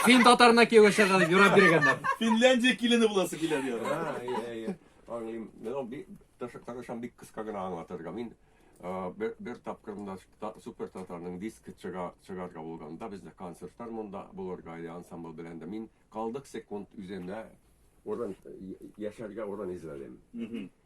Фин татарына кияүгә чыгар, юрап биргәннәр. Финляндия килене буласы килә дияр. А, әйе, әйе. Аңлыйм. Мен ул бик тырышып тырышам бик кыска гына аңлатырга. Мин а, бер, бер тапкырында та- супер татарның диск чыга, чыгарга булганда бездә концертлар монда булырга иде ансамбль белән дә. Мин калдык секунд үземә урын я- яшәргә урын эзләдем. Мгм.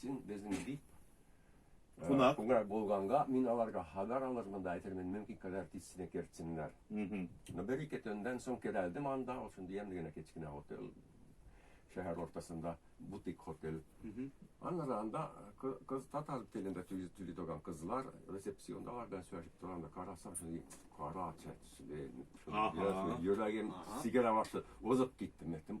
Син безнең бик Кунак. Кунак булганга мин аларга хабар алырмын да әйтермен, мөмкин кадәр тизсенә кертсеннәр. Но бер ике төннән соң керәлдем анда, ул шундый ямьле генә кечкенә отель. Шәһәр ортасында бутик отель. Аннары анда кыз татар телендә төли торган кызлар ресепсиондалар белән сөйләшеп торганда карасам, шундый кара чәчле, йөрәгем сигерә башлады. Узып киттем, әйттем,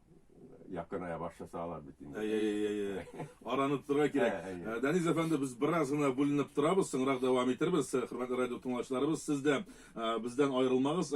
якыная башласа алар бит инде. Әй, әй, әй, әй. Аранып торырга кирәк. Ә, әй, әй. Ә, Данис әфәнде, без бераз гына бүленеп торабыз, соңрак дәвам итербез. Хөрмәтле радио тыңлаучыларыбыз, сез дә а, бездән аерылмагыз. Әле